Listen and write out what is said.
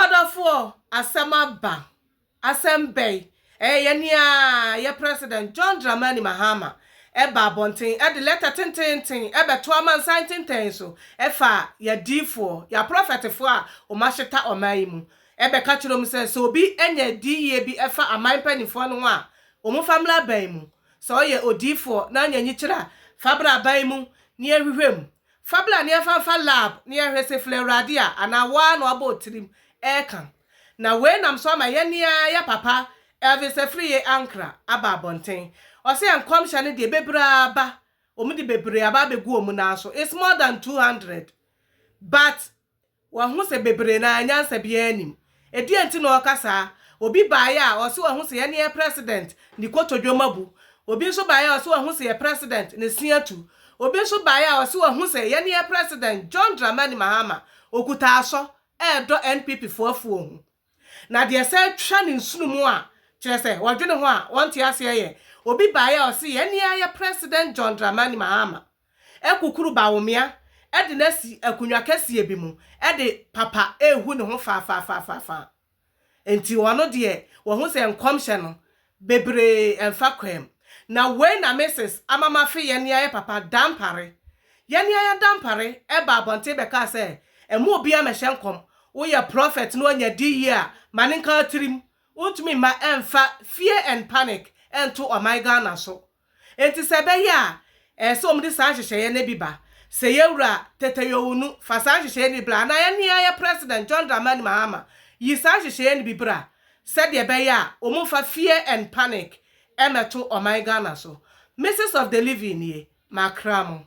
Ɔdɔfoɔ, asɛm aba. Asɛm bɛn? Ɛyɛ nea yɛ President John Dramani Mahama ba abɔnten de lɛtɛ tenteenten bɛto amansan ntentɛn so fa yɛ adiyifoɔ, yɛ aprɔfɛtefoɔ a wɔahyeta ɔman yi mu bɛka kyerɛ wɔn sɛ, sɛ obi anya adiyie bi fa aman mpanimfoɔ no ho a, wɔmfa mmra aban mu. Sɛ woyɛ odiyifoɔ na woanya nyikyerɛ a, fa bra aban mu na yɛnhwehwɛ mu. Fa bla ne ɛfa mfa lab ne ɛhwɛ se flɛ awurade a anaa wo ara na wabɔ wo tirim ɛɛka. Na wei nam so ama yɛn ne ara yɛ papa Elvis Afriyie Ankrah aba abɔnten. Ɔse yɛn nkɔmhyɛ no deɛ bebree aba, wɔn de bebree aba abɛgu wɔn nan so, it's more than 200 but Wahu sɛ bebree no ara nyansa biara nnim. Ɛdeɛn nti na ɔreka saa? Obi baeɛ a, ɔse wahu sɛ yɛne yɛn President ne kotodwom abu. Obi nso baeɛ a, ɔse wahu sɛ yɛn President ne se atu. Obi nso baeɛ a, ɔse wahu sɛ yɛne yɛn President John Dramani Mahama ɔkuta asɔ, ɛredɔ NPP-foɔ afuo ho. Na deɛ ɛsan twa ne nsono mu a kyerɛ sɛ wɔdwene ho a wɔnte aseɛ yɛ obi baeɛ a ɔse yɛn nea yɛ President John Dramani Mahama akukuru Bawumia de no asi akonnwa kɛseɛ bi mu de papa rehu ne ho faafaafaafaafaa. Enti ɔno deɛ wahu sɛ nkɔmhyɛ no bebree ɛmfa kwan mu. Na wei na Mrs. ama mafe yɛn ne ayɛ papa Dampare. Yɛn ne ayɛ Dampare ɛbaa abɔnten bɛkaa sɛ, Ɛmma obiara mmɛhyɛ nkɔm, woyɛ prɔfɛt na wanya di yie a, ma no nka tirim. Wontumi mma ɛmfa fear and panic nto ɔman Ghana so. Enti sɛ ɛbɛyɛ a, ɛsɛ sɛ wɔde saa nhyehyɛeɛ no bi ba. Sɛ Yɛwura Tete Yowunu fa saa nhyehyɛeɛ no bi bra, anaa yɛn nuayɛ President John Dramani Mahama yi saa nhyehyɛeɛ no bi bra, sɛdeɛ ɛbɛyɛ a wɔmfa fear and panic mmɛto ɔman Ghana so. Mrs of the living nie, makra mo.